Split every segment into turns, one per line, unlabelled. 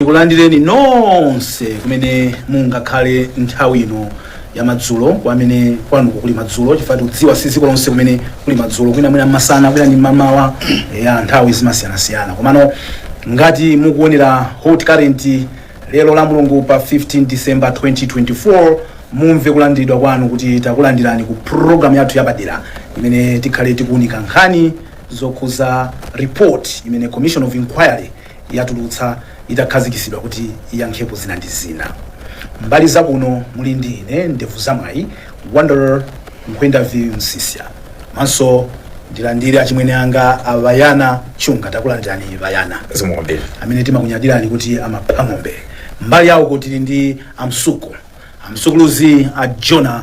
ndikulandireni nonse kumene mungakhale nthawi ino ya madzulo kwa amene kwanuko kuli madzulo chifukwa tikudziwa si dziko lonse kumene kuli madzulo kwina mwina mmasana kwina ndi mmamawa ya nthawi zimasiyanasiyana komano ngati mukuonera hot current lero la mulungu pa 15 december 2024 mumve kulandiridwa kwanu kuti takulandirani ku programu yathu yapadera imene tikhale tikuunika nkhani zokhuza report imene commission of inquiry yatulutsa itakhazikitsidwa kuti iyankhepo zina ndi zina. Mbali za kuno muli ndi ine Ndevuzamwayi, Wonder Nkhwendaville Msisya komanso ndilandire achimwene anga a Bayana Chunga. Takulandirani Bayana. Zikomo kwambiri.
amene
timakunyadirani kuti amapha ng'ombe. Mbali ya uko tili ndi a Msuku, a Msukuluzi a Jona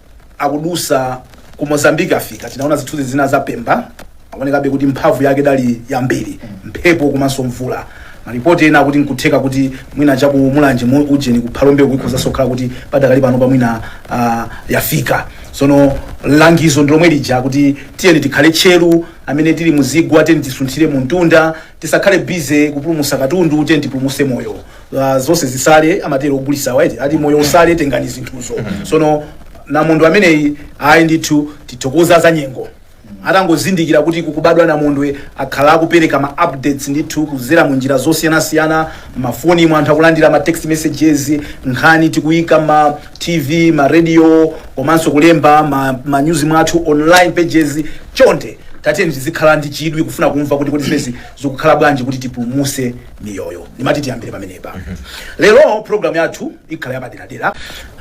akudutsa ku mozambique afika tinaona zithunzi zina za pemba akuonekabe kuti mphamvu yake idali yambiri mphepo komanso mvula malipoti ena akuti nkutheka kuti mwina chaku mulanje ujeni kuphalombeko ikhozanso kukhala kuti padakali pano pamwina ah, yafika sono langizo ndilomwe lija kuti tiyeni tikhale tcheru amene tili muzigwa tiyeni tisunthire mu mtunda tisakhale busy kupulumusa katundu tiyeni tipulumuse moyo Ah, zonse zisale amatero ogulisawa eti ati moyo usale tengani zinthuzo sono namondwe ameneyi ayi ndithu tithokoze a zanyengo atangozindikira kuti kukubadwa namondwe akhala akupereka ma updates ndithu kuzera mu njira zosiyanasiyana mmafoni mwa anthu akulandira ma text messages nkhani tikuyika ma TV, ma radio komanso kulemba ma, ma news mwathu online pages chonde tatiyeni tizikhala ndi chidwi kufuna kumva kuti kodi zimezi zikukhala bwanji kuti tipulumuse miyoyo ndimati tiyambire pamenepa lero program yathu ikhala yapaderadera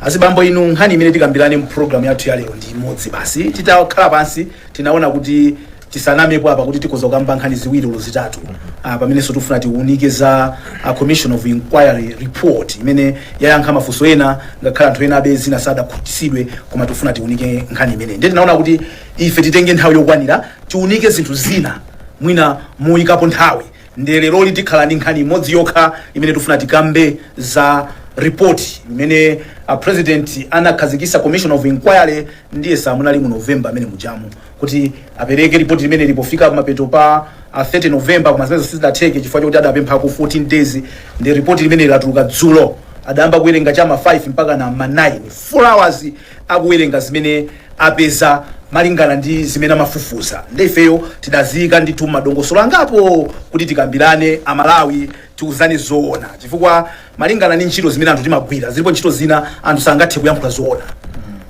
azibambo inu nkhani imene tikambirane mu program yathu ya lero ndi imodzi basi titakhala pansi tinaona kuti tisanamepo apa kuti tikhoza kukamba nkhani ziwiri olo zitatu ah, pamenenso tifuna tiunike za ah, commission of inquiry report imene yayankha mafunso ena ngakhale anthu enabe zina sadakhutisidwe koma tifuna tiunike nkhani imene ndiye tinaona kuti ife titenge nthawi yokwanira tiunike zinthu zina mwina moyikapo nthawi ndiye leroli tikhala ndi nkhani imodzi yokha imene tifuna tikambe za ripoti imene a president anakhazikisa commission of inquiry ndiyesa munali mu november amene mujamu kuti apereke lipoti limeneli pofika kumapeto pa ah, 30 november koma zimenezo sizidatheke chifukwa chakuti adapemphanso 14 days nde ripoti limeneli latuluka dzulo adayamba kuwerenga chama 5 mpaka na ma 9 4 hours akuwerenga zimene apeza malingana ndi zimene amafufuza nde ifeyo tidaziyika ndithu madongosolo angapo kuti tikambirane amalawi tiuzane zoona chifukwa Malingana ndi ntchito zimene anthu timagwira, zilipo ntchito zina anthu sangathe kuyankhula zoona.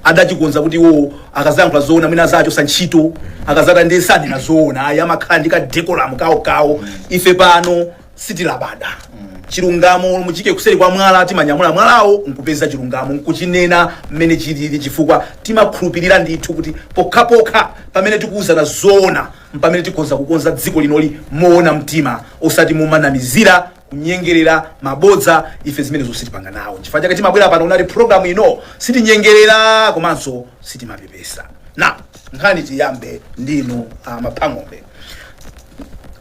Adachikonza kuti iwowo akazayankhula zoona mwina azawachosa ntchito, akazatani ndiye sazanena zoona ayi amakhala ndi ka decorum kawo kawo. Ife pano sitilabada. Chilungamo olo muchiike kuseri kwa mwala timanyamula mwalawo nkupeza chilungamo nkuchinena mmene chilili chifukwa timakhulupilira ndithu kuti pokhapokha pamene tikuuzana zoona mpamene tikhonza kukonza dziko linoli moona mtima osati momanamizira kunyengerera mabodza ife zimenezo sitipanga nawo chifukwa chake timabwera pano unati program ino sitinyengerera komanso sitimapepesa na nkhani tiyambe ndinu ah, Mavuto Bamusi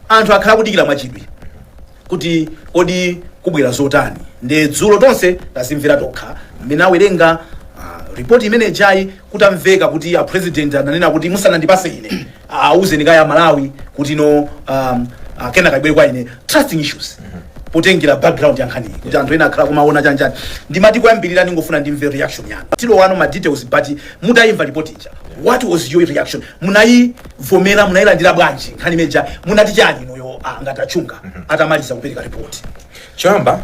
anthu akhala akudikira mwachidwi kuti kodi kukubwera zotani nde dzulo tonse tazimvera tokha mmene amawerengera ah, ripoti imene ijayi kutamveka kuti a president ananena kuti musanandipatse ine awuzeni kaye aMalawi kuti no um, uh, kenaka ibwere kwa ine trusting issues potengera background ya nkhaniyi kuti anthu ena akhala akumaona chanjani ndimati koyambirira ndingofuna ndimve reaction yanu tilowa mu ma details but mutayimva report ija what was your reaction munayivomera munayilandira bwanji nkhani imene ija munati chani inuyo ah, a Ngati a Chunga atamaliza kupereka report choyamba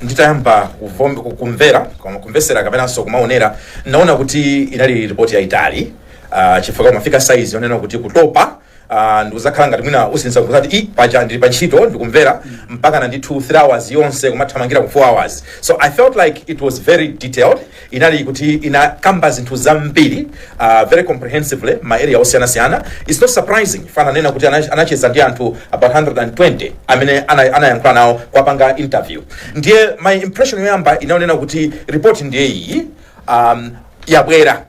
nditayamba kuvom- ku- kumvera koma kumvesera kapenanso kumaonera naona kuti inali ripoti yayitali uh, chifukwa kumafika size yonena kuti kutopa uh, ndikuzakhala ngati mwina ukusinza nkuzati ii paja ndili pa ntchito ndikumvera mpakana ndithu 3 hours yonse kumathamangira ku 4 hours so i felt like it was very detailed inali kuti inakamba zinthu zambiri uh, very comprehensively ma area osiyanasiyana its not surprising chifukwa ananena kuti ana- anacheza ndi anthu about 120 amene ana- anayankhula nawo kuwapanga interview ndiye my impression yoyamba inali yonena kuti report ndiye iyi um, yabwera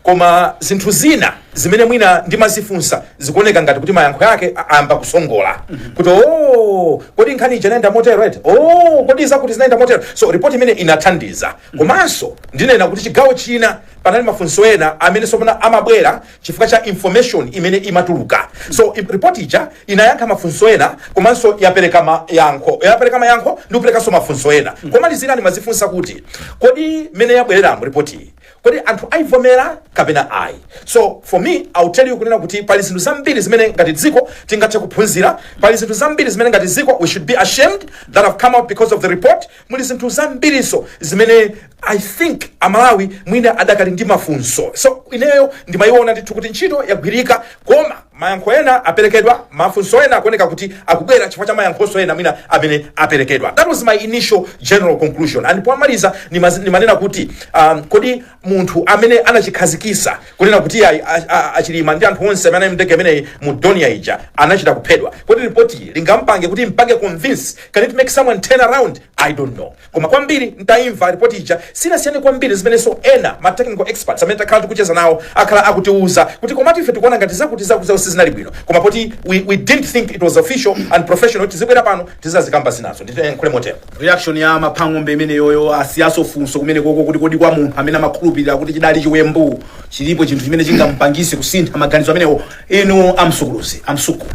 Koma zinthu zina zimene mwina ndimazifunsa zikuoneka ngati kuti mayankho ake a- ayamba kusongola kuti o kodi nkhani ija inayenda motero eti o kodi zakuti zinayenda motero so ripoti imene inathandiza komanso ndinena kuti chigawo china panali mafunso ena amene tsopano amabwera chifukwa cha information imene imatuluka so i- ripoti ija inayankha mafunso ena komanso yapereka mayankho yapereka mayankho ndi kuperekanso mafunso ena komalizira ndimazifunsa kuti kodi mmene yabwereramo ripoti iyi kodi anthu aivomera kapena ayi so for me i will tell you kunena kuti pali zinthu zambiri zimene ngati dziko tingathe kuphunzira pali zinthu zambiri zimene ngati dziko we should be ashamed that have come out because of the report muli zinthu zambirinso zimene i think amalawi mwina adakali ndi mafunso so ineyo ndimayiona ndithu kuti ntchito yagwirika koma Mayankho ena aperekedwa, mafunso ena akuoneka kuti akubwera chifukwa cha mayankhonso ena mwina amene aperekedwa. That was my initial general conclusion and pomaliza nimazi- nimanena kuti um, kodi munthu amene anachikhazikisa kunena kuti ayi, a- a- achilima ndi anthu onse amene anali mndege imene ija mu Dornier ija anachita kuphedwa kodi ripotili lingampange kuti limpange convince can it make someone turn around i don't know Koma kwambiri n'taimva lipoti ija, sinasiyane kwambiri ndi zimenenso ena, ma technical experts, amene takhala tikucheza nawo akhala akutiuza, kuti komatu ife tikuona ngati zakuti zakuti zakuti sizinali bwino, koma poti we, we didn't think it was official and professional, tizibwera pano tizazikamba zinazo, ndiyankhule motero. reaction ya
maphang'ombe imeneyoyo asiyaso funso kumenekoko kuti kodi kwa munthu amene amakhulupirira kuti chidali chiwembu chilipo chinthu chimene chingampangise kusintha maganizo amenewo inu a Msuku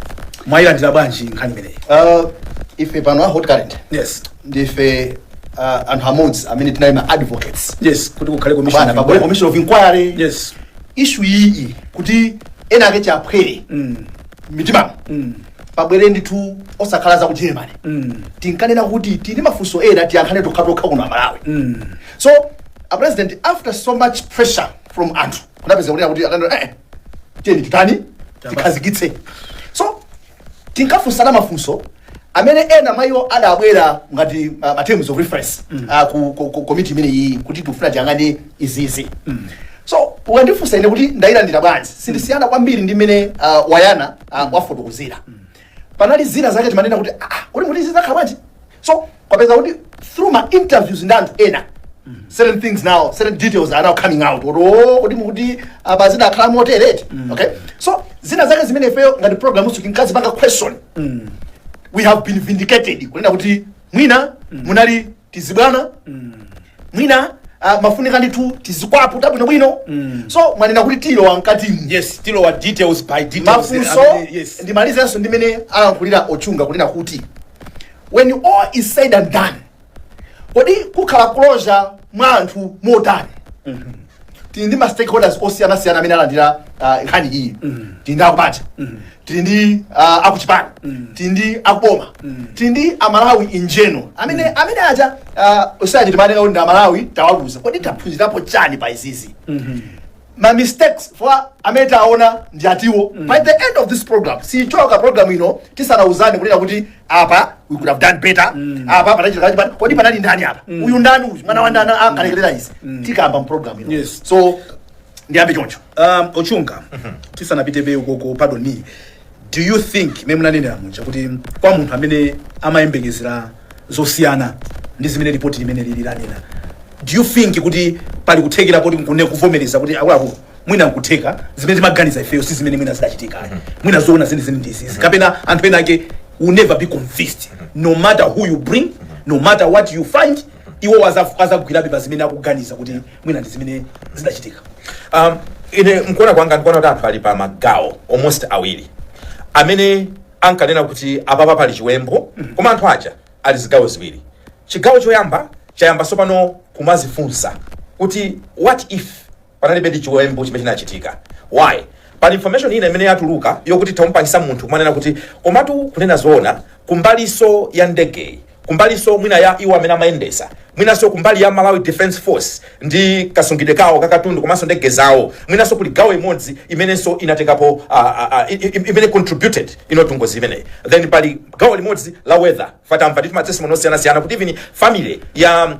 mwayilandira bwanji nkhani imeneyi Uh, ife
pano a Hot Current yes ndife uh, anthu amodzi amene tinali ma advocates yes kuti kukhale
commission bana of pabwere inquiry. commission
of inquiry yes ishu
iyi
kuti ena ake kaphwere mm. mitima mm. pabwere ndithu osakhala za ku Germany mm. tinkanena kuti tili mafunso ena tiyankhane tokha tokha kuno a Malawi mm. so a president after so much pressure from anthu kunapeza kunena kuti akunena eh tiyeni titani tikhazikitse so tinkafunsana mafunso amene ena mwa iwo adabwera ngati uh, ma terms of reference uh, ku, ku, ku komiti imene iyi kuti tifuna tiyang'ane izizi so ukandifunsa ine kuti ndayilandira bwanji sindisiyana kwambiri ndi mmene uh, Wayana uh, wafotokozera panali zina zake timanena kuti ah, ah, kodi kuti zizakhala bwanji so kwapeza kuti through ma interviews ndi anthu ena certain things now certain details are now coming out kuti oh kuti apa zidakhala motereti okay so zina zake zimene ifeyo ngati program usu tinkazipanga question we have been vindicated kunena kuti mwina munali tizibwana mwina uh, mafunika ndithu tizikwaputa bwinobwino so mwanena kuti tilowa mkatimu yes tilowa details
by details mafunso amene- yes
ndimalizenso ndi mmene alankhulira a Chunga kunena kuti When all is said and done, kodi kukhala closure mwa anthu motani? Tili ndi ma stakeholders osiyanasiyana amene alandira ah, nkhani iyi. Tili ndi akubanja, tili ndi ah, akuchipani, tili ndi akuboma, tili ndi aMalawi in general. Amene amene aja ah, osati timanena kuti ndi aMalawi tawaluza. Kodi taphunzirapo chani pa izizi? ma mistakes oti amene taona ndi atiwo by the end of this program sichoka program ino tisanauzane kunena kuti apa we could have done better apa panachitika chipano kodi panali ndani apa uyu ndani uyu mwana wa ndani akalekerera izi tikamba mu program ino Yes. so ndiyambe choncho um, a
Chunga tisanapite be ukoko pardon me Do you think mmene munanenera muja kuti kwa munthu amene amayembekezera zosiyana ndi zimene lipoti limene lili lanena, do you think kuti pali kuthekera poti nkune kuvomereza kuti akuluakulu mwina nkutheka zimene timaganiza ifeyo si zimene mwina zidachitika ayi. mwina zoona zenizeni ndi izizi kapena anthu ena ake will never be convinced no matter who you bring no matter what you find iwo azagwirabe pa zimene akuganiza kuti mwina ndi zimene zidachitika
um, ine mkuona kwanga ndikuona kuti anthu ali pa magawo almost awiri amene ankanena kuti apapa pali chiwembu koma anthu aja ali zigawo ziwiri chigawo choyamba chayamba tsopano kumazifunsa kuti what if panalibe ndi chiwembu chimene chinachitika why pali information ina imene yatuluka yokuti ikumupangisa munthu kumanena kuti komatu kunena zoona kumbaliso ya ndegeyi kumbalinso mwina ya iwo amene amayendesa mwinanso kumbali ya malawi defense force ndi kasungidwe kawo kakatundu komanso ndege zawo mwinanso kuli gawo imodzi imenenso inatengapo uh, uh, uh, imene contributed into ngozi imeneyi then pali gawo limodzi la weather tamva ndi matestimony osiyanasiyana kuti even family ya uh,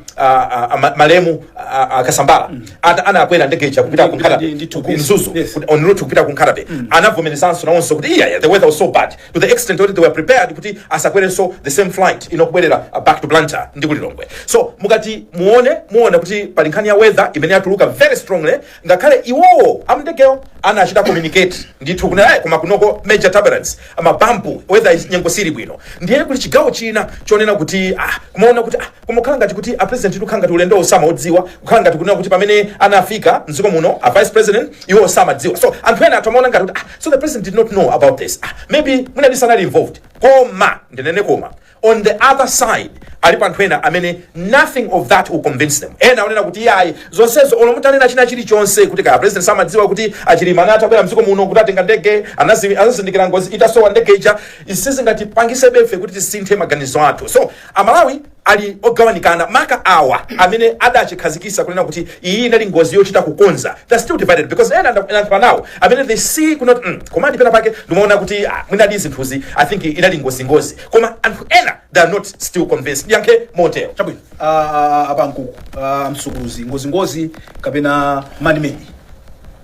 uh, ma- malemu uh, uh, kasambala ata- anakwera ndege ija kupita Ndi- ku ndi- Nkhatabay, ndi- ndi- ku- ku Mzuzu Yes. kuti- on route kupita ku Nkhatabay anavomerezanso nawonso kuti iya yeah, the weather was so bad to the extent that they were prepared kuti asakwerenso the same flight ino kubwerera uh, back to blantyre ndi kulilongwe so mukati muone muona kuti pali nkhani ya weather imene yatuluka very strongly ngakhale iwowo amndegewo anachita communicate ndithu kunena ayi koma kunoko major turbulence mabampu weather is- nyengo sili bwino ndiye kuli chigawo china chonena kuti ah, kumaona kuti ah, Kumakhala ngati kuti a president tu kukhala ngati ulendowo samaudziwa, kukhala ngati kunena kuti pamene anafika m'dziko muno a vice president iwo samadziwa. So anthu ena akumaona ngati kuti ah, so the president did not know about this ah, maybe mwina ndi sanali involved. Koma ndinene koma on the other side alipo anthu ena amene nothing of that will convince them. Ena akunena kuti iyayi zonsezo olo mutanena china chilichonse kuti kaya president samadziwa kuti achilima anatabwera mdziko muno kuti atenga ndege anazi- anazindikira ngozi itasowa ndege ija izi sizingatipangisebe ife kuti tisinthe maganizo athu. So Amalawi ali ogawanikana maka awa amene adachikhazikisa kunena kuti iyi inali ngozi yochita kukonza they're still divided because ena nda- ndayankhula nawo amene they see kunena kuti mm, koma ndi pena pake ndimaona kuti ah, mwinadi zinthuzi i think inali ngozingozi koma anthu ena they are not still convinced ndiyankhe motero chabwino
Ah, ah, ah, a Mkukupha mkulu ngozingozi kapena man-made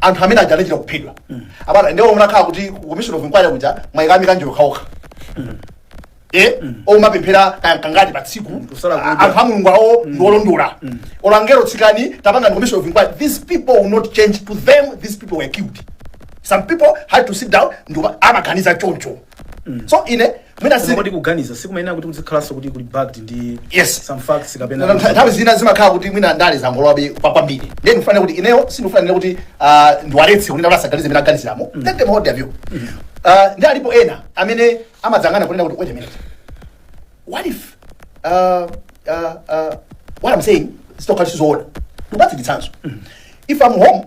anthu amene aja anachita kuphedwa abana ndiwo munakhala kuti ku commission of inquiry kuja mwaikamo akaneneri okhaokha eh oumapemphera kangati pa tsiku Kusala kudya. anthu a mulungu awo ndi olondola olangero sikani tapanga ndi commission of inquiry these people will not change to them these people were killed some people had to sit down ndi amaganiza choncho so ine mwina Koma si kodi kuganiza
sikumayenera kuti muzikhalanso kuti kuli backed ndi Yes. some facts kapena Ntha- nthawi zina
zimakhala kuti mwina ndale zangolowabe pa- kwambiri ndiye ndikufuna kuti ineyo sindikufuna kuti ah, ndiwaletse kunena kuti asaganize mene aganiziramo let them hold their view Ah, ndi alipo ena amene amadzanena kunena kuti wait a minute what if uh, uh, uh, what i'm saying zitakhala sizoona ndikupatseni chitsanzo if i'm home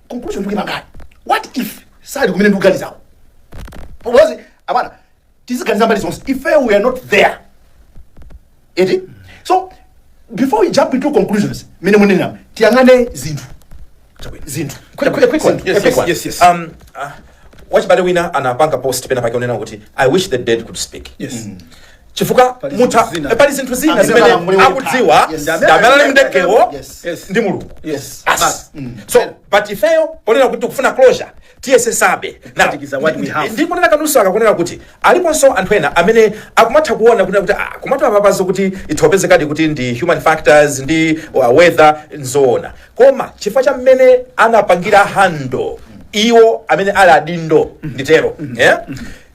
conclusion ndikuyamba ngati what if sali kumene tikuganizako because abwana tiziganiza mbali zonse if we are not there eti so before we jump into conclusions mene munena tiyang'ane zinthu Chabwino.
zinthu Quick, quick, quick one. Zinthu. Yes, Quick yes, one. yes, yes. Um, uh, wachibale wina anapanga post pena pake unena kuti i wish the dead could speak Yes.
chifukwa
Pali mutha zinthu zina. eh, pali zinthu zina Amene zimene alamulira akudziwa kukhala. Yes. ndi amene anali mundegewo Yes. Yes. ndi mulungu Yes. Basi.
Basi. Mm. so
but ifeyo ponena kuti tikufuna closure tiyesesabe Na- Kuphatikiza what we ndi- have. ndi kunena kapenanso kunena kuti aliponso anthu ena amene akumatha kuona kunena kuti ah, kumatu apapazo kuti itha kupezekadi kuti ndi human factors ndi uh, weather nzoona koma chifukwa cha mmene anapangira handle iwo amene ali adindo nditero eh?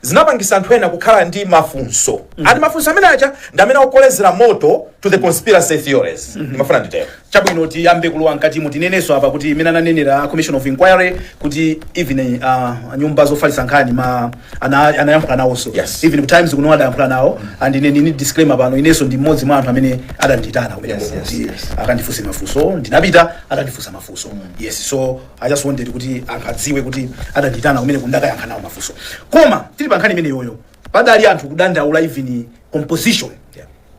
zinapangisa anthu ena kukhala ndi mafunso and mafunso amene aja ndi amene akukolezera moto to the conspiracy theories ndimafuna nditero chabwino tiyambe
kulowa mkatimu tinenenso apa kuti mmene ananenera a commission of inquiry kuti even uh, nyumba zofalitsa nkhani ma ana- anayankhula nawonso Yes. even ku times kuno adayankhula nawo and ine ndili ndi disclaimer pano inenso ndi mmodzi mwa anthu amene adandiitana kumene Yes, yes, kuti yes. akandifunse mafunso ndinapita anakandifunsa mafunso yes so I just wanted kuti anthu adziwe kuti adandiitana kumene kuti ndikayankhe nawo mafunso koma tili pa nkhani imeneyoyo padali anthu kudandaula even composition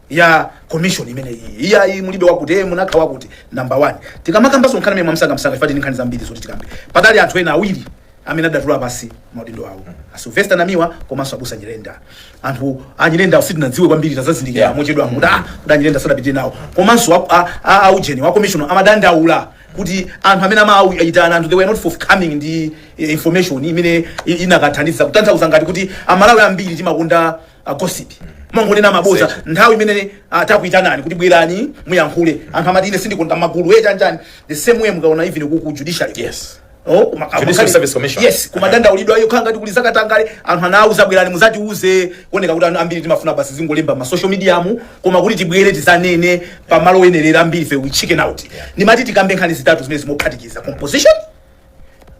ya commission imene iyi iyayi mulibe wakuti eh, munaika wakuti number one tikamakambanso nkhani imeneyi mwamsangamsanga chifukwa tili ndi nkhani zambiri zoti tikambe padali anthu ena awiri amene adatula pansi maudindo awo a Sylvester Namiwa komanso abusa Nyirenda anthu a Nyirenda sitinadziwe kwambiri tazazindikira Yeah. mochedwa kuti a Nyirenda sadapite nawo komanso a- a- a- aujeni wa commission amadandaula kuti anthu amene amawaitana anthu they were not forthcoming ndi eh, information imene i- ikanathandiza kutanthauza ngati kuti amalawi ambiri timakonda uh, gossip kumangonena maboza Seche. nthawi imene uh, takuitanani kuti bwerani muyankhule anthu amati ine sindikonda magulu achanichani the same way mukaona even ku ku judiciary Yes. Oh, kuma-
Judicial amakali- Service Commission. yes kumadandaulidwa
ayo kaya kuli zakatangale anthu anauzidwa bwerani muzatiuze kuoneka kuti anthu ambiri timafuna basi zingolemba ma social media mu koma kuti tibwere tizanene pa malo oyenerera ambiri ife we chicken out ndimati tikambe nkhani zitatu zimenezi mophatikiza composition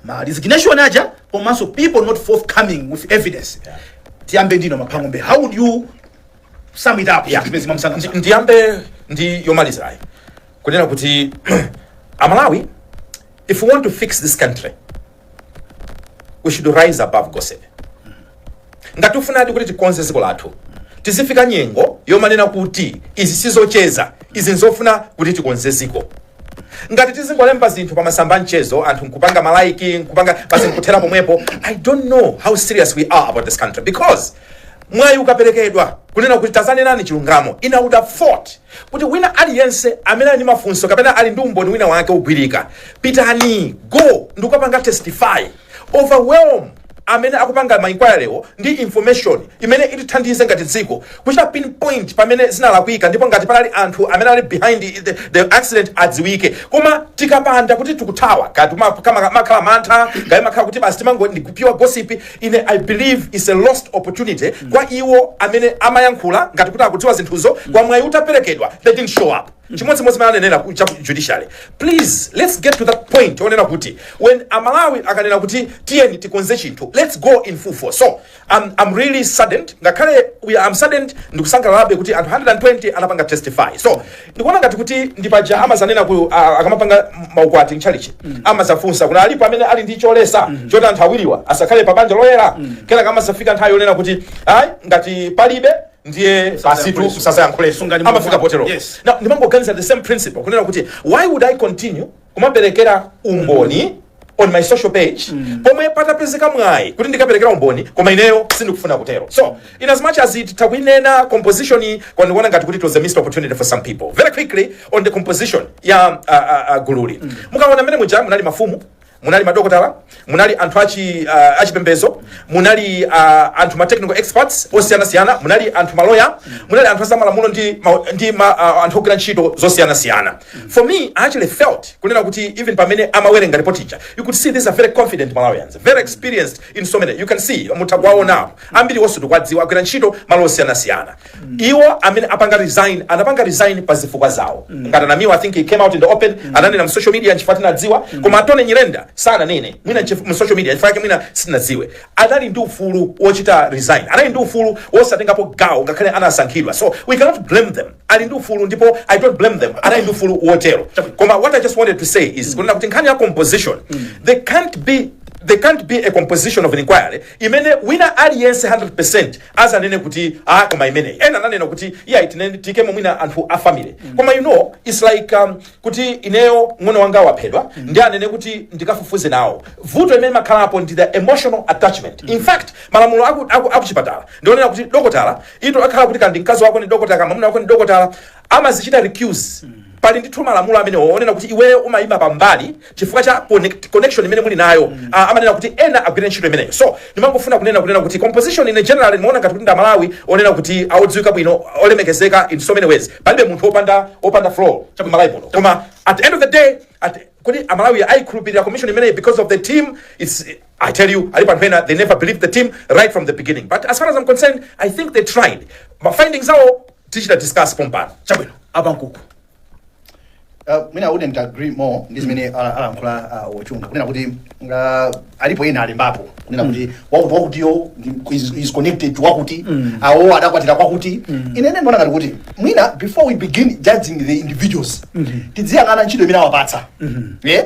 ma resignation aja komanso people not forthcoming with evidence tiyambe ndi inu a Mhango how would you sum it up Yeah. zimenezi mwamsanga Ndi- ndiyambe
ndi yomalizayi kunena kuti amalawi If we want to fix this country, we should rise above gossip. Ngati tikufunadi kuti tikonze dziko lathu, tizifika nyengo yomanena kuti izi sizocheza, izi nzofuna kuti tikonze dziko. Ngati tizingolemba zinthu pa masamba a mchezo, anthu nkupanga malaiki, nkupanga basi nkuthera pomwepo, I don't know how serious we are about this country because Mwayi ukaperekedwa kunena kuti tazanenani chilungamo I would have thought kuti wina aliyense amene ali ndi mafunso kapena ali ndi umboni wina wake ogwirika pitani go ndikukapanga testify overwhelm amene akupanga ma inquiry-wo ndi information imene itithandize ngati dziko kuchita pinpoint pamene zinalakwika ndipo ngati panali anthu amene ali behind the, the accident adziwike koma tikapanda kuti tikuthawa kaya timakhala mantha kaya makhala kuti basi timangoti ndi pure gossip ine i believe is a lost opportunity kwa iwo amene amayankhula ngati kuti akudziwa zinthuzo koma mwayi utaperekedwa they didn't show up chimodzimodzi mmene ananenera ku- cha ku judiciary please let's get to that point onena kuti when amalawi akanena kuti tiyeni tikonze chinthu let's go in full force so I'm, I'm really saddened ngakhale we are- I'm saddened ndikusangalalabe kuti anthu 120 anapanga testify so ndikuona ngati kuti ndi paja amazanena ku a- akamapanga maukwati mchalichi amazafunsa kuti alipo amene ali ndi choletsa choti anthu awiriwa asakhale pa banja loyera kenaka amazafika nthawi yonena kuti ayi ngati palibe ndiye basitu Musazayankhulenso. musazayankhulenso Sungani amafika mwa- potero Yes. Now, ndimangoganiza the same principle kunena kuti why would i continue kumaperekera umboni on my social page mm. pomwe patapezeka mwayi kuti ndikaperekere umboni koma ineyo sindikufuna kutero so in as much as titakuinena composition koma ndikuona ngati kuti it was a missed opportunity for some people very quickly on the composition ya uh, uh, uh, gululi mm. mukaona mmene muja munali mafumu munali madokotala munali anthu achi uh, achipembezo munali uh, anthu ma technical experts osiyanasiyana munali anthu maloya munali anthu azamalamulo ndi, ma, ndi ma, uh, anthu ogwira ntchito zosiyanasiyana for me i actually felt kunena kuti even pamene amawerenga report ija you could see these are very confident malawians very experienced in so many you can see mutha kuwaonawo ambiri wonse tikuwadziwa agwira ntchito malo osiyanasiyana iwo amene anapanga resign anapanga resign pa zifukwa zawo ngati namiwa i think he came out in the open ananena mu social media nchifukwa tinadziwa koma a Tonny Nyirenda sananene mwina nchif- mu social media nchifukwa yake mwina sinadziwe anali ndi ufulu wochita resign anali ndi ufulu wosatengapo gawo ngakhale anasankhidwa so we cannot blame them ali ndi ufulu ndipo i don't blame them anali ndi ufulu wotero koma what i just wanted to say is kunena kuti nkhani ya composition there can't be there can't be a composition of an inquiry imene wina aliyense 100% azanene kuti ah koma imeneyi ena ananena kuti iyayi tinene tiikemo mwina anthu a family koma you know it's like um, kuti ineyo mng'ono wanga waphedwa ndi anene kuti ndikafufuze nawo vuto imene imakhalapo ndi the emotional attachment in fact malamulo aku, aku, akuchipatala ndi onena kuti dokotala utakhala kuti kaya ndi mkazi wako ndi dokotala kaya mwamuna wako ndi dokotala amazichita recuse. Pali ndithu malamulo amenewo onena kuti iweyo umayima pambali chifukwa cha connect, connection imene muli nayo Ah, amanena kuti ena agwire ntchito imeneyo so ndimangofuna kunena kunena kuti composition in general ndimaona ngati kuti ndi amalawi onena kuti awodziwika bwino olemekezeka in so many ways palibe munthu opanda opanda flaw kumalawi muno koma at the end of the day at, kodi amalawi ayikhulupirira commission imeneyi because of the team it's I tell you, Ali Panhena, they never believed the team right from the beginning. But as far as I'm concerned, I think they tried. My findings are all zimene that discuss pompano. Chabwino. a Bakuku
Uh, ine I wouldn't agree more ndi zimene ala- alankhula uh, a Chunga kunena kuti uh, alipo ena alembapo kunena kuti wakuti wakutiyo ndi- is, is connected to wakuti awo adakwatira kwakuti ine ndimaona ngati kuti mwina before we begin judging the individuals tidziyang'ana ntchito imene awapatsa yeah?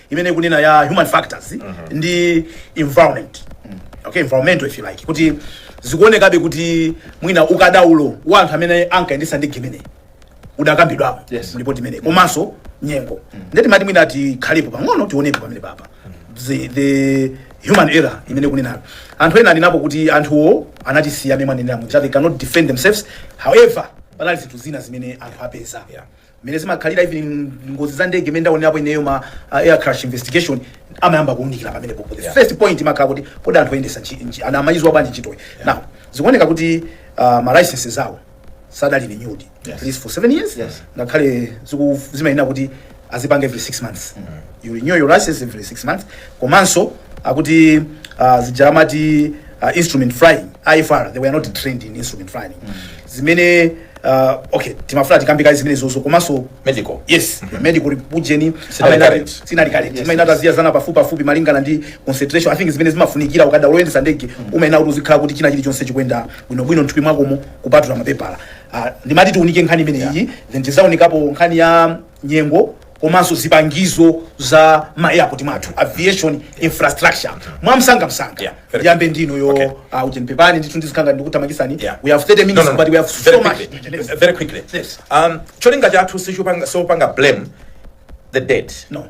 imene mukunena ya human factors ndi environment okay environmental if you like kuti zikuonekabe kuti mwina ukadaulo wa anthu amene ankayendetsa ndege imene udakambidwapo Yes. mulipoti limene komanso nyengo ndiye timati mwina tikhalepo pang'ono tionepo pamenepa pa the, the human error imene akunenayo anthu ena anenapo kuti anthuwo anatisiya mmene anenera muja they cannot defend themselves however panali zinthu zina zimene anthu apeza mmene zimakhalira even in ngozi za ndege imene ndaonerapo ineyo ma uh, air crash investigation amayamba kuunikira pamenepo the Yeah. first point imakhala kuti kodi anthu oyendetsa nchi- nchi- ana amayidziwa bwanji ntchitoyi now zikuoneka kuti uh, ma licenses awo sadali renewed Yes. at least for seven years Yes. ngakhale ziku- zimayenera kuti azipanga every six months you renew your license every six months komanso akuti uh, zija amati uh, instrument flying ifr they were not trained in instrument flying zimene uh, okay timafuna tikambekadi zimenezozo komanso medical
yes
medical rep- ujeni Sinali amayenera- current. sinali
current. Imayenera kuti
aziyezedwa pafupi pafupi malingana ndi concentration i think zimene zimafunikira ukakhala woyendetsa ndege umayenera kuti uzikhala kuti china chilichonse chikuyenda bwinobwino mthupi mwakomo kupatula mapepala Ah, ndimati tiunike nkhani imeneyi then tidzaunikapo nkhani ya nyengo komanso zipangizo za ma airport mwathu aviation infrastructure mwamsangamsanga Yeah, very ndiyambe ndi inuyo Okay. uh, ujeni pepani ndithu ndizikhala ndikuthamangitsani Yeah. we have 30 minutes but we have so much very quickly. Yes. very quickly
Yes. um cholinga chathu sichopanga sopanga blame the dead no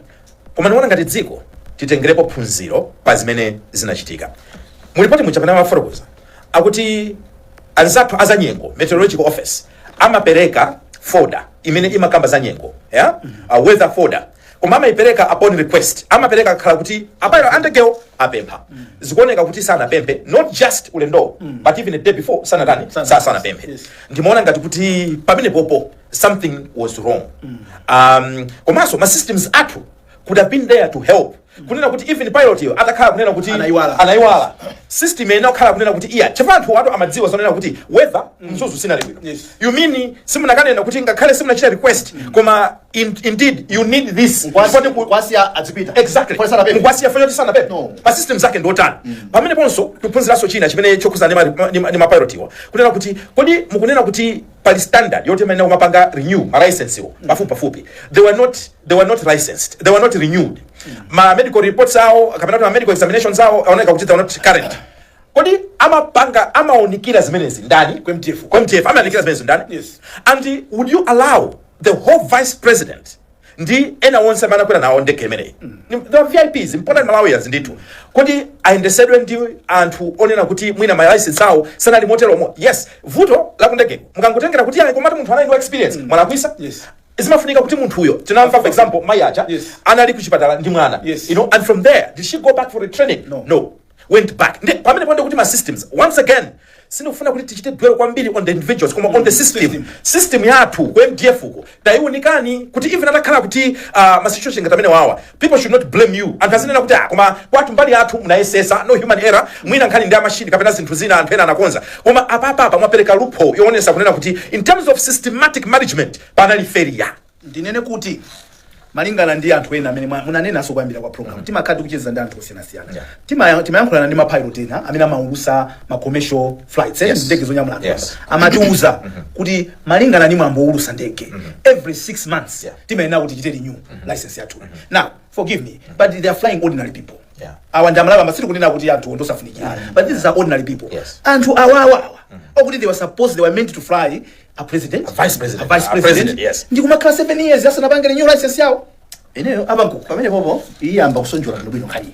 koma ndikuona ngati dziko titengerepo phunziro pa zimene zinachitika mulipoti muja pamene amafotokoza akuti anzathu azanyengo meteorological office amapereka folder imene imakamba za nyengo yeah? uh, weather folder koma amaipereka upon request amapereka akhala kuti a pilot a ndegewo apempha zikuoneka kuti sanapemphe not just ulendowo but even a day before sanatani Sana- sa sanapemphe yes. ndimaona ngati kuti pamenepopo something was wrong um, komanso ma systems athu could have been there to help kunena kuti even pilot yo atakhala kunena kuti Anaiwala. anaiwala system inakakhala kunena kuti iya chifukwa anthuwatu amadziwa zonena kuti weather ku Mzuzu sinali bwino Yes. you mean simunakanena kuti ngakhale simunachita request koma in, indeed you need this Mkwasi- Chifukwa ku-
mkwasiya adzipita exactly Mkwasi sanapemphe.
mkwasiya poti sanapemphe No. pa system yake ndi yotani pameneponso tikuphunziranso china chimene chokhudza ndi ma- ma- ndi ma- ndi mapilotiwa kunena kuti kodi mukunena kuti pali standard yoti imayenera kumapanga renew ma license wo pafupi pafupi they were not they were not licensed they were not renewed ma medical reports awo kapena kuti ma medical examinations awo aoneka kuti they were not current kodi amapanga amaunikira zimenezi ndani Ku MDF. Ku MDF amaunikira zimenezi ndani Yes. and would you allow the whole vice president ndi ena onse amene anakwera nawo ndege imeneyi Ni- the vips important malawians ndithu kodi ayendesedwe ndi anthu onena kuti mwina ma license awo sanali motero yes vuto lakundegeko mukangotengera kuti ayi komati munthu anali ndi experience mwalakwisa Yes. zimafunika kuti munthuyo tinamva for example mai aja Yes. anali kuchipatala ndi mwana Yes. you know and from there did she go back for retraining No. no went back ndi pamene pandi kuti ma systems once again sindikufuna kuti tichite dwell kwambiri on the individuals koma on the system System. system yathu ku mdf uko tayiunikani kuti even atakhala kuti uh, ma situation ngati amene wawa People should not blame you. Anthu azinena kuti ah, koma kwathu mbali yathu munayesesa no human error, mwina nkhani ndi ya mashini kapena zinthu zina anthu ena anakonza. Koma apapa apa mwapereka loophole yoonesa kunena kuti in terms of systematic management panali failure. ndinene kuti
malingana ndi anthu ena amene mwa- munanenaso kuyambira kwa programu timakhala tikucheza ndi anthu osiyanasiyana Tima- timayankhulana ndi mapilot ena amene amaulusa ma commercial flights eh, Yes. ndege zonyamula anthu Yes. amatiuza kuti malingana ndi mwambo woulusa ndege every six months Yeah. timayenera kuti tichite renew license yathu now forgive me but they are flying ordinary people Yeah. awa ndi amalawi sikuti kunena kuti anthu ondosafunikira but these are ordinary people Yes. anthu awawawa okuti they were supposed they were meant to fly a president A vice president. a vice A
president, president, yes. ndi kumakhala 7
years asanapange renew license yawo ineyo apa
pamene popo iyamba kusonjola bwino bwino nkhani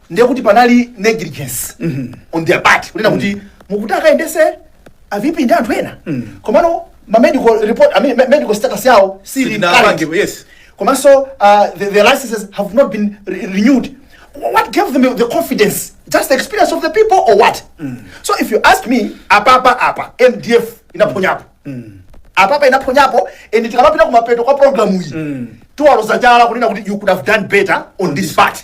ndiye kuti panali negligence on their part kunena kuti mukuti mukayendese avipi ndi anthu ena komano ma medical report I mean, me- medical status yawo si sili current. yes. komanso
uh,
the, the licenses have not been re renewed what gave them the confidence just the experience of the people or what so if you ask me apapa apa mdf inaphonyapo apapa inaphonyapo and tikamapita kumapeto kwa programu iyi tiwaloza chala kunena kuti you could have done better on this part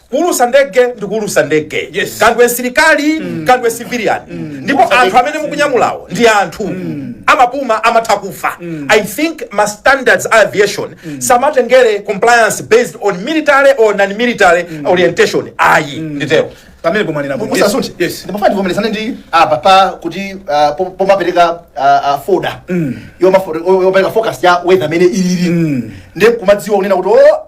kuulusa ndege ndi kuulusa ndege Yes. kaya ndiwe msilikali kaya ndiwe civilian ndipo anthu amene mukunyamulawo ndi anthu amapuma amatha kufa i think ma standards a aviation samatengere compliance based on military or non-military orientation ayi nditero pamene mwanena
bwino. musasunthe Yes. ndimafuna
ndivomerezane ndi apa pa kuti ah, po- pomapereka ah, ah, foda Yomafo- yo- yopereka forecast ya weather mmene ilili ndi kumadziwa kunena kuti o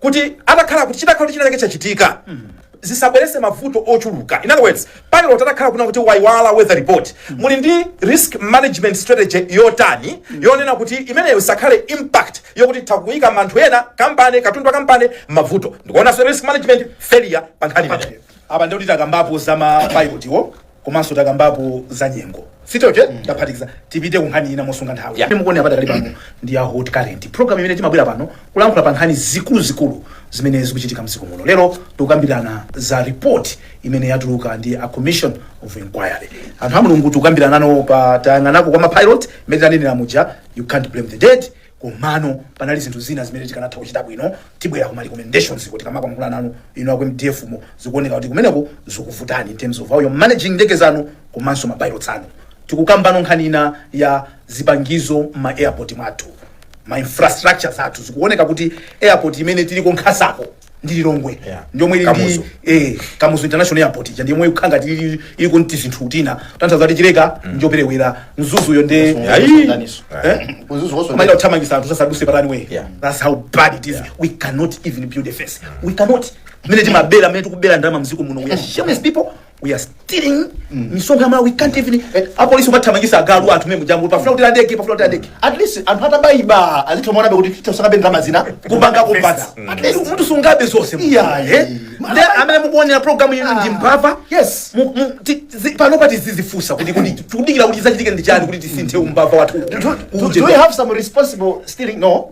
kuti atakhala kuti chitakhala kuti chinachake chachitika zisabwerese mavuto ochuluka in other words pilot atakhala kunena kuti waiwala weather report muli ndi risk management strategy yotani yonena kuti imeneyo isakhale impact yokuti itha kuyika anthu ena kapena katundu wa kampani mavuto ndikuonanso risk management failure pa nkhani imeneyo apa ndikuti takambapo
za mapilotiwo komanso takambapo za nyengo stori taphatikiza tipite ku nkhani ina mosunga nthawi Yeah. Imene mukuonera padakali pano ndi a hot current program imene timabwera pano kulankhula pa nkhani zikuluzikulu zimene zikuchitika mdziko muno lero tikukambirana za report imene yatuluka ndi a commission of inquiry anthu a mulungu tikukambirana nano pa tayang'anako kwa mapilot imene tanenera muja you can't blame the dead komano panali zinthu zina zimene tikanatha kuchita bwino tibwera kuma recommendations kuti tikamayankhula nanu inu aku mdf mo zikuoneka kuti kumeneko zikuvutani in terms of how you're managing ndege zanu komanso ma pilots anu tikukamba nkhani ina ya zipangizo ma airport mwathu ma infrastructure zathu zikuoneka kuti airport imene tiliko nkhasako ndi lilongwe Yeah. ndiyomwe ili ndi Kamuzu. eh, kamuzu international airport ija ndiyomwe ikukhala ngati ili- ili kunti zinthu kutanthauza kuti chileka njoperewera mzuzuyo ndi Ayi. Eh? Kuzuzu koso- Mayi kuthamangisa anthu sasaduse pa runway Yeah. that's how bad it is we cannot even build a fence we cannot mene timabera mene tikubera ndalama mziko muno we are shameless people we are stealing misonkho ya amalawi we can't even apolisi kumathamangisa agalu anthu mene mujambo pafuna kuti ndege pafuna kuti ndege at least anthu
akabayiba azithomaonabe kuti tisungabe ndalama zina kupanga kupatsa
at least munthu sungabe zonse Yeah, eh? Nde amene mukuonera programu ino ndi mbava Yes. Mu- mu- ti- zi- panopa tizizifunsa kuti kuti tikudikira kuti zachitike ndi chani kuti tisinthe umbava wathu Do, do, do we have
some responsible stealing? No.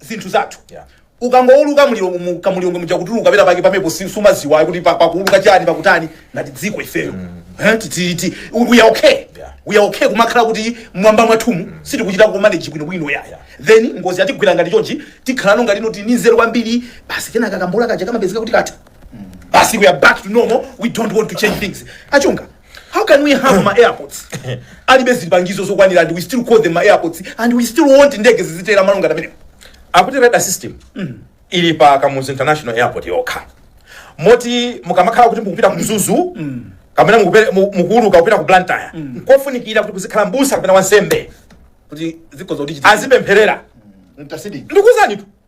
zinthu zathu Yeah. ukangouluka mu lilongwe mu- mu lilongwe muja kutuluka pera pake pamepo si- sumaziwa kuti pa- pakuuluka chani pakutani ngati dziko ifeyo Eh, ti- ti- ti- we are okay Yeah. we are okay kumakhala kuti mwamba mwathumu sitikuchita kumanage bwinobwino yeah then ngozi yatigwira ngati chonchi tikhalano ngati ndi oti ndi anzeru kwambiri basi kenaka kambola kaja kamapezeka kuti katha basi we are back to normal we don't want to change things achunga how can we have ma airports alibe zipangizo zokwanira and we still call them ma airports and we still want ndege zizitera malo ngamene akuti radar system
ili pa kamuzu international airport yokha moti mukamakhala kuti mukupita ku mzuzu kapena mukupere- mu- mukuuluka kupita ku blantyre nkofunikira kuti muzikhala mbusa kapena wansembe kuti
zikhoza kuchitika
azipempherera mtasid
ndikuuzanitu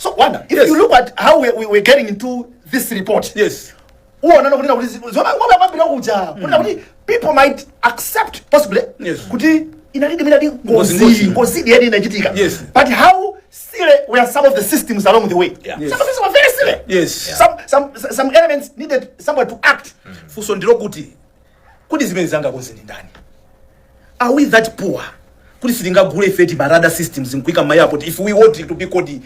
so wanda
if Yes. you look at how we, we were getting into this report yes uonana
kunena kuti zi- zona ngoma yamabira kuja
kunena kuti people might accept possibly Yes. kuti inalidi miladi Ngozi, ngozi. ngozi ngozi yedi inachitika Yes. but how silly were some of the systems along the way Yeah. Yes. some of these were very
silly
Yes. some,
some, some
elements needed someone to act funso ndilo kuti
kodi zimenezi angakonze ndi ndani are we that poor kuti sitingagule ife ma radar systems nkuika ma airport if we want to be called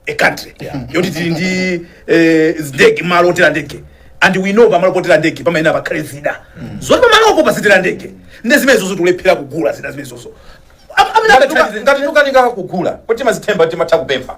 a country yoti tili ndi eh, ndege malo otera ndege and we know pamalo potera ndege pamayenera pakhale zida zoti pamalopo pazitera ndege nde zimenezozo tikulephera kugula zida zimenezozo Am- amene Ngati tuka-
angathandize- ngati tukanika kugula kuti timazithemba timatha kupempha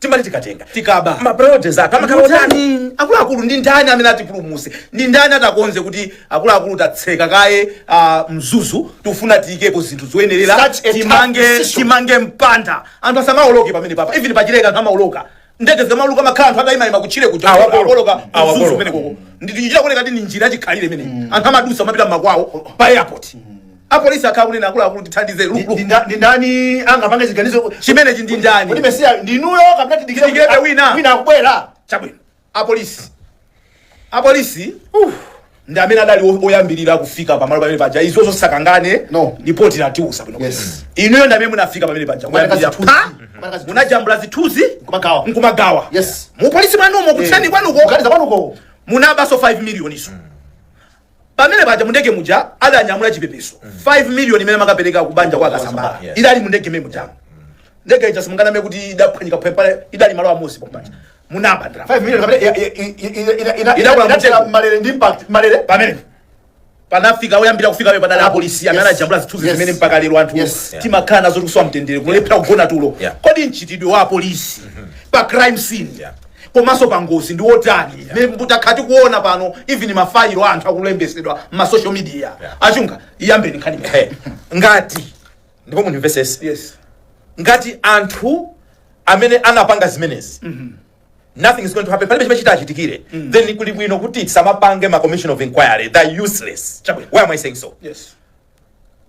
timati tikatenga tikaba ma
priorities athu
amakhala otani
Ndani? akuluakulu ndi ndani amene atipulumuse ndi ndani atakonze kuti akuluakulu tatseka kaye ah, mzuzu tikufuna tiyikepo zinthu zoyenerera Such a tough timange decision. timange mpanda anthu asamaoloke pamene papa even pachileka anthu amaoloka ndege zikamauluka kumakhala anthu atayimayima kutchire kuja Awakolo. akuoloka mzuzu Awakolo. kumenekoko ndi kuchita kuoneka kuti ndi njira yachikhalire imene anthu amadusa amapita mmakwawo pa airport apolisi akhala kunena akuluakulu tithandize Ndi- ndi nda- ndi
ndani angapange chiganizo chimenechi ndi
ndani kuti mesiya
ndinuyo kapena tidikire Tidikire kuti- wina. wina
akubwera chabwino apolisi apolisi ndi amene adali o- oyambirira kufika pamalo pamene paja izo zosakangane No. lipoti latiuza bwino Yes. inuyo ndi
amene
munafika pamene paja Kupereka Oyambirira zithunzi. pa, Kupereka zithunzi. munajambula zithunzi Nkumagawa. nkumagawa Yes. mupolisi
mwanumo
kuthani kwanuko kuganiza kwanuko
munabanso
5 million izo pamene paja mundege muja adanyamula chipepeso 5 million imene amakapereka kubanja kwa Kasambara Yes. idali mundege mmene muja ndege ija simunganame kuti idaphwanyika phepale idali malo amodzi pompaja munaba ndalama 5 million
kapena ya- ya- i- i- ina- ina- ina- Inakula inatera mtengo. m'malere ndi impact m'malere
pamene panafika oyambira kufika pe padali apolisi amene Yes. anajambula zithunzi Yes. zimene mpaka lero anthu Yes. Yeah. timakhala nazo tikusowa mtendere kulephera kugona tulo Yeah. kodi mchitidwe wa apolisi pa crime scene Yeah. komanso pa ngozi ndi wotani yeah. takhala tikuona pano even mafayilo a anthu akulembetsedwa ma social media yeah. a Chunga iyambeni nkhani Hey, ngati
ndipo mundimvetsetse yes ngati anthu amene anapanga zimenezi nothing is going to happen palibe chimene chitawachitikire then kuli bwino kuti tisamapange ma commission of inquiry they are useless Chabwino. why am i saying so yes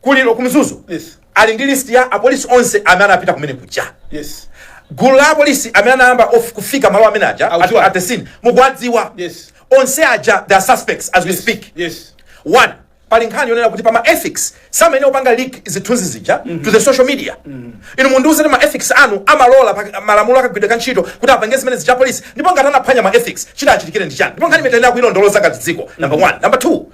ku
Lilo ku Mzuzu Yes. ali ndi
list
ya apolisi onse amene anapita kumene kuja
Yes. gulu la
apolisi amene anayamba of- kufika malo amene aja at, Audziwa. at the scene mukuwadziwa Yes. onse
aja they
are suspects as we speak Yes. one
pali
nkhani yonena kuti pama ethics samayenera kupanga leak zithunzi zija to the social media inu mundiuze ma ethics anu amalola pa- malamulo akagwiridwe ka ntchito kuti apange zimene zija polisi ndipo ngati anaphwanya ma ethics chitawachitikire ndi chani ndipo nkhani imeneyi tiyenera kuilondoloza ngati dziko number one number two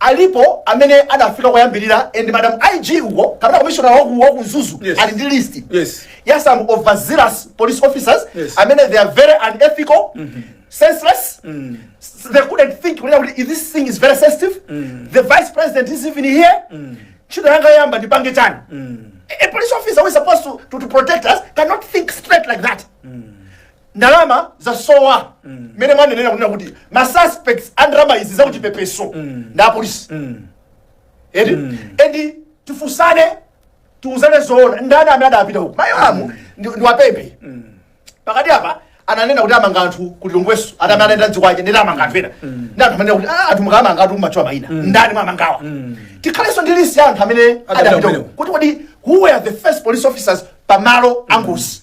Alipo amene adafika koyambirira and madam IG uko kapena commissioner waku waku Mzuzu Yes. ali ndi list Yes. ya some overzealous police officers Yes. amene they are very unethical senseless s- they couldn't think kunena kuti this thing is very sensitive the vice president is even here ntchito yanga yoyamba ndipange chani a a police officer who is supposed to, to, to protect us cannot think straight like that ndalama zasowa mmene mwanenera kunena kuti ma suspects a ndalama izi zakuchipepeso ndi apolisi eti and tifunsane tiuzane zoona ndani amene adapita uku mayi Yolamu ndi- ndiwapemphe pakati apa ananena kuti amanga anthu ku Lilongwenso ati amene anaenda ndi zikwanje nditi amanga anthu ena ndi anthu amene kuti "Ah, anthu mukamanga anthu mumatchula mayina ndani mwamangawa tikhalenso ndi list ya anthu amene adapita uku kumeneko. kuti kodi who were the first police officers pamalo angozi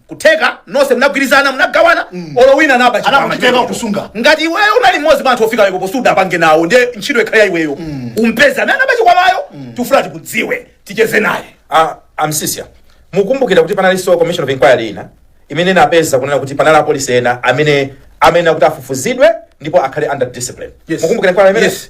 kutheka nonse munagwirizana munagawana olo wina anaba chikwama Anakutheka chimene.
kusunga. ngati iweyo unali
mmodzi mwa anthu ofika pamenepo sudapange nawo ndiye ntchito ikhale ya iweyo umpeze amene anaba chikwamayo tifuna tikudziwe ticheze naye a
Msisya mukumbukira kuti panalinso commission of inquiry ina imene inapeza kunena kuti panali apolisi ena amene amene akuti afufuzidwe ndipo akhale under discipline Yes. mukumbukira inquiry imene Yes.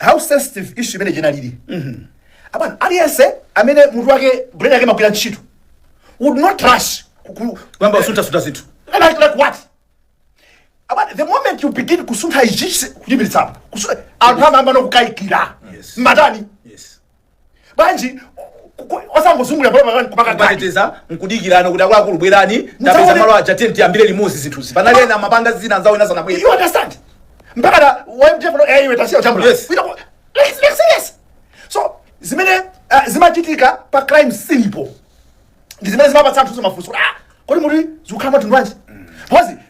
how sensitive issue imene chinalili abana aliyense amene munthu wake brain yake imagwira ntchito would not rush ku- ku- kuyamba kusunthasuntha
zinthu like, like
what abana the moment you begin kusuntha ichichi kuchipitsapo anthu amayambano kukayikira Yes. matani bwanji ku- ku- osangozungulira pano pano kupanga gani
kumateteza nkudikirana kuti akuluakulu bwerani tapeza Mudzaone- malo aja tiyeni tiyambire limodzi zinthuzi panali ena mapanga zina anzawo ena sanabwera you understand
mpaka na wamtefano eh iwe tasiya utambula Yes. you know like like serious so zimene uh, zimachitika pa crime scene po ndi zimene zimapatsa anthu mafunso kuti, ah kodi muti zikukhala mtundu wanji because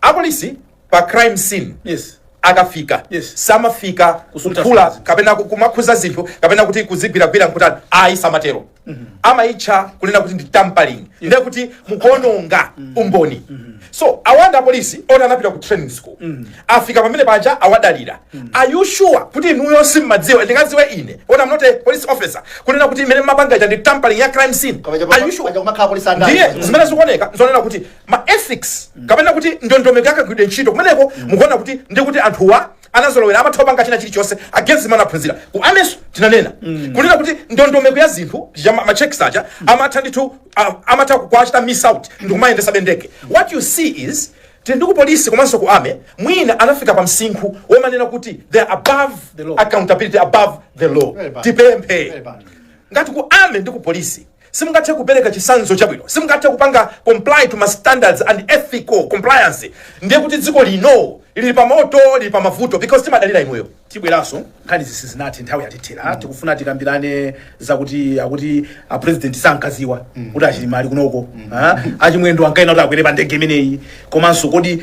apolisi pa crime scene yes akafika Yes. samafika Kusuntha kuphula zinthu. kapena ku- kumakhuza zinthu kapena kuti kuzigwiragwira nkutani ayi samatero amayitcha kunena kuti ndi tampering ndiye kuti mukuononga umboni so awanda apolisi oti anapita ku training school afika pamene paja awadalira are you sure kuti inuyo simmadziwa ndingadziwe ine oti am not a police officer kunena kuti imene mumapanga ija ndi tampering ya crime scene Koma chapa- are you sure paja kumakhala polisi andale. ndiye zimene zikuoneka zonena kuti ma ethics kapena kuti ndondomeko ya kagwiridwe ntchito kumeneko mukuona kuti ndi kuti anthuwa anazolowera amatha kupanga china chilichonse against zimene anaphunzira ku army'so tinanena kunena kuti ndondomeko ya zinthu ya ma- machecks aja amatha ndithu a- amatha kuachita miss out ndikumayendesa bendeke what you see is tili ndi ku polisi komanso ku army mwina anafika pa msinkhu womanena kuti they are above law. accountability above the law Very bad. tipemphe Very bad. ngati ku army ndi ku polisi Simungathe kupereka chitsanzo chabwino, simungathe kupanga comply to ma standards and ethical compliance, ndiye kuti dziko lino lili pa moto, lili pa mavuto because timadalira imweyo. Tibweraso nkhani
izi sizinathe nthawi yatithera mm. tikufuna tikambirane zakuti akuti a president sankaziwa mm. kuti achilima ali kunoko mm. achimwendo ankayenera kuti akwere pa ndege imeneyi komanso kodi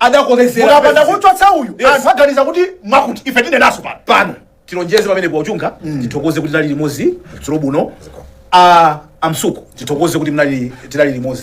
adakolezera mukapanda pezi. kumchotsa
uyu Yes. anthu aganiza kuti mwakuti ife tinenanso pano pano tilonjeze
pamene kuwachunga tithokoze kuti tinali limodzi dzulo buno a amsuku tithokoze kuti mnali tinali limodzi